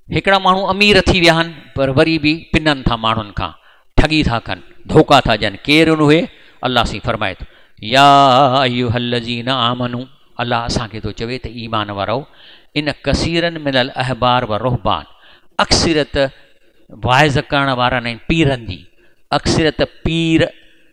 هڪڙا ماڻهو امير ٿي ويا آهن پر وري به پنن ٿا ماڻهن کان ٺڳي ٿا ڪن ڌوڪا ٿا ڏين ڪير ان اهي الله سين فرمائي ٿو يا ايو الذين آمنو الله اسان کي ٿو چوي ته ايمان وارو ان ڪثيرن من الاحبار و رهبان اڪثرت واعظ ڪرڻ وارن ۽ پيرن جي اڪثريت پير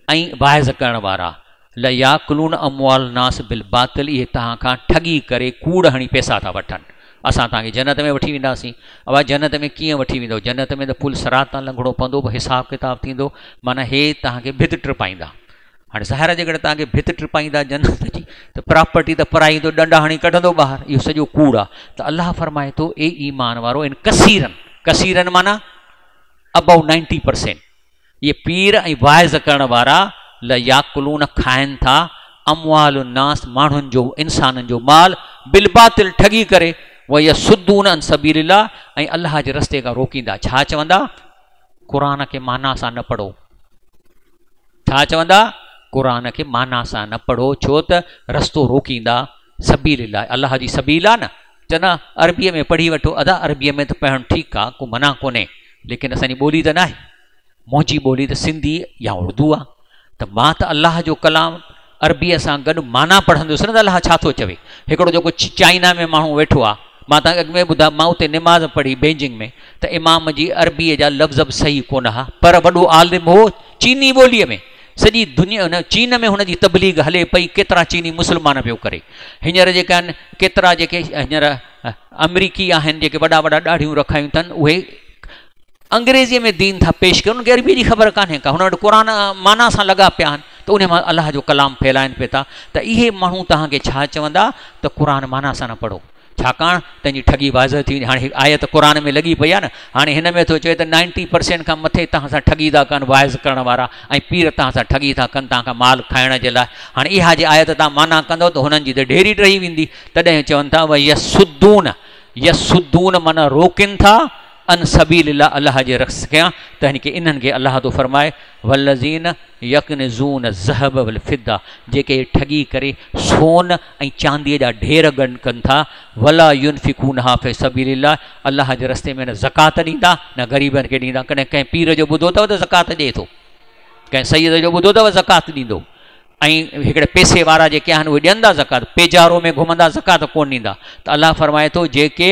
۽ واعظ ڪرڻ وارا لا ياڪلون اموال الناس بالباطل اهي توهان کان ٺڳي ڪري ڪوڙ هڻي پيسا ٿا وٺن اسان توهان کي جنت ۾ وٺي وينداسين اوهان جنت ۾ ڪيئن وٺي ويندو جنت ۾ ته پل صراط تان لنگهڻو پوندو حساب ڪتاب ٿيندو معنيٰ هي توهان کي ڀت ٽپائيندا هاڻي ظاهر آهي جيڪڏهن توهان کي ڀت ٽپائيندا جنت جي ته پراپرٽي ته پرائي ته ڏنڊ هڻي ڪڍندو ٻاهر اهو سڄو ڪوڙ آهي ته الله فرمائي ٿو اي ايمان وارو ان کسيرن کسيرن معنی ابو نائنٽي پرسينٽ اهي پير ۽ واعظ ڪرڻ وارا ليا کلون کائن ٿا اموال الناس ماڻهن جو انسانن جو مال بالباطل ٺڳي ڪري ويا سدون ان سبيل الله ۽ الله جي رستي کان روڪيندا ڇا چوندا قرآن کي معنيٰ سان نه پڙهو ڇا چوندا؟ قرآن کي معنيٰ سان نه پڙهو ڇو ته رستو روڪيندا سبيل الله الله جي سبيل آ نه چوندا عربي ۾ پڙهي وٺو ادا عربي ۾ ته پڙهڻ ٺيڪ آ ڪو منع ڪونهي ليڪن اسان جي ٻولي ته ناهي منهنجي ٻولي ته سنڌي يا اردو آ ته مان ته الله جو ڪلام عربيء سان گڏ معنيٰ پڙهندس نه ته الله ڇا ٿو چوي. هڪڙو جيڪو چائنا ۾ ماڻهو ويٺو آ، مان توهان کي اڳ ۾ ئي ٻڌايو، مان اتي نماز پڙهي بيجنگ ۾ ته امام جي عربيء جا لفظ به صحيح ڪونه ها، پر وڏو عالم هو چيني ٻوليء ۾، سڄي دنيا ان چين ۾ هن جي تبليغ هلي پئي، ڪيترا چيني مسلمان پيو ڪري. هينئر جيڪي آهن ڪيترا جيڪي هينئر آمريڪي آهن جيڪي وڏا وڏا ڏاڙهيون رکايون ٿن اهي، انگريزيء ۾ دين ٿا پيش ڪن، انهن کي عربيء جي خبر ڪانهي ڪا، هن وٽ قرآن معنيٰ سان لڳا پيا آهن ته انهيء مان الله جو ڪلام ڦهلائين پئي ٿا ته اهي ماڻهو توهان کي ڇا چوندا ته قرآن معنيٰ سان نه پڙهو، ڇاڪاڻ تنهن جي ٺڳي واضح ٿي ويندي، هاڻي هڪ آيت قرآن ۾ لڳي پئي آهي نه، هاڻي هن ۾ ٿو چوي ته نائنٽي پرسينٽ کان مٿي توهان سان ٺڳي ٿا ڪن واعظ ڪرڻ وارا ۽ پير توهان سان ٺڳي ٿا ڪن توهان کان مال کائڻ جي لاء، هاڻي اها جي آيت توهان معنيٰ ڪندؤ ته هنن جي ته ڍيري ٽهي ويندي، تڏهن چون ٿا ويصدون يصدون معنيٰ روڪين ٿا، ان سبيل الله الله جي رخص ڪيان ته يعني ڪي انهن کي الله ٿو فرمائي والذين يڪنزون الذهب والفضه جيڪي ٺڳي ڪري سون ۽ چاندي جا ڍير گڏ ڪن ٿا ولا ينفقونها في سبيل الله الله جي رستي ۾ نه زڪات ڏيندا نه غريبن کي ڏيندا ڪڏهن ڪنهن پير جو ٻڌو اٿو ته زڪات ڏئي ٿو ڪنهن سيد جو ٻڌو اٿو زڪات ڏيندو ۽ هڪڙي پيسي وارا جيڪي آهن اهي ڏيندا زڪات پيجارو ۾ گهمندا زڪات ڪون ڏيندا ته الله فرمائي ٿو جيڪي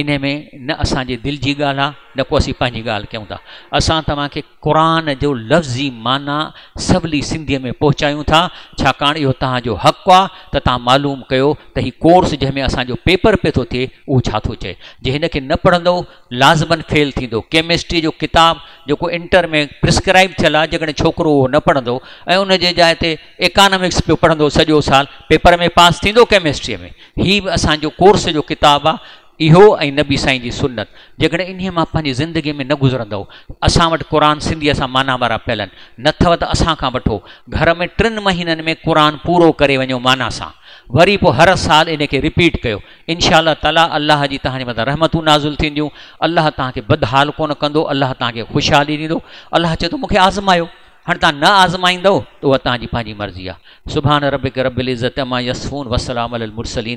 انهي ۾ نه اسان جي دل جي ڳالهه آهي نه ڪو اسين پنهنجي ڳالهه ڪيون ٿا. اسان توهان کي قرآن جو لفظي معنيٰ سولي سنڌيء ۾ پهچايون ٿا، ڇاڪاڻ اهو توهان جو حق آهي ته توهان معلوم ڪيو ته هي ڪورس جنهن ۾ اسان جو پيپر پئي ٿو ٿئي اهو ڇا ٿو چئي. جي هن کي نه پڙهندؤ لازمن فيل ٿيندؤ. ڪيمسٽريء جو ڪتاب جيڪو انٽر ۾ پرسڪرائيب ٿيل آهي جيڪڏهن ڇوڪرو اهو نه پڙهندو ۽ ان جي جاء تي ايڪانامڪس پيو پڙهندو سڄو سال پيپر ۾ پاس ٿيندو ڪيمسٽريء ۾؟ هي به اسان جو ڪورس جو ڪتاب آ اهو ۽ نبي سائين جي سنت جيڪڏهن انهي مان پنهنجي زندگي ۾ نه گذرندؤ اسان وٽ قرآن سنڌيء سان معنيٰ وارا پيلن نه ٿئو ته اسان کان وٺو گهر ۾ ٽن مهينن ۾ قرآن پورو ڪري وڃو معنيٰ سان وري پو هر سال ان کي رپيٽ ڪيو انشاء الله تعاليٰ الله جي توهان جي مٿان رحمتون نازل ٿينديون الله توهان کي بدحال ڪونه ڪندو الله توهان کي خوشحالي ڏيندو الله چي ٿو مون کي آزمايو هاڻي توهان نه آزمائيندؤ ته اها توهان جي پنهنجي مرضي آهي. سبحان ربک رب العزت عما يصفون وسلام علي المرسلين.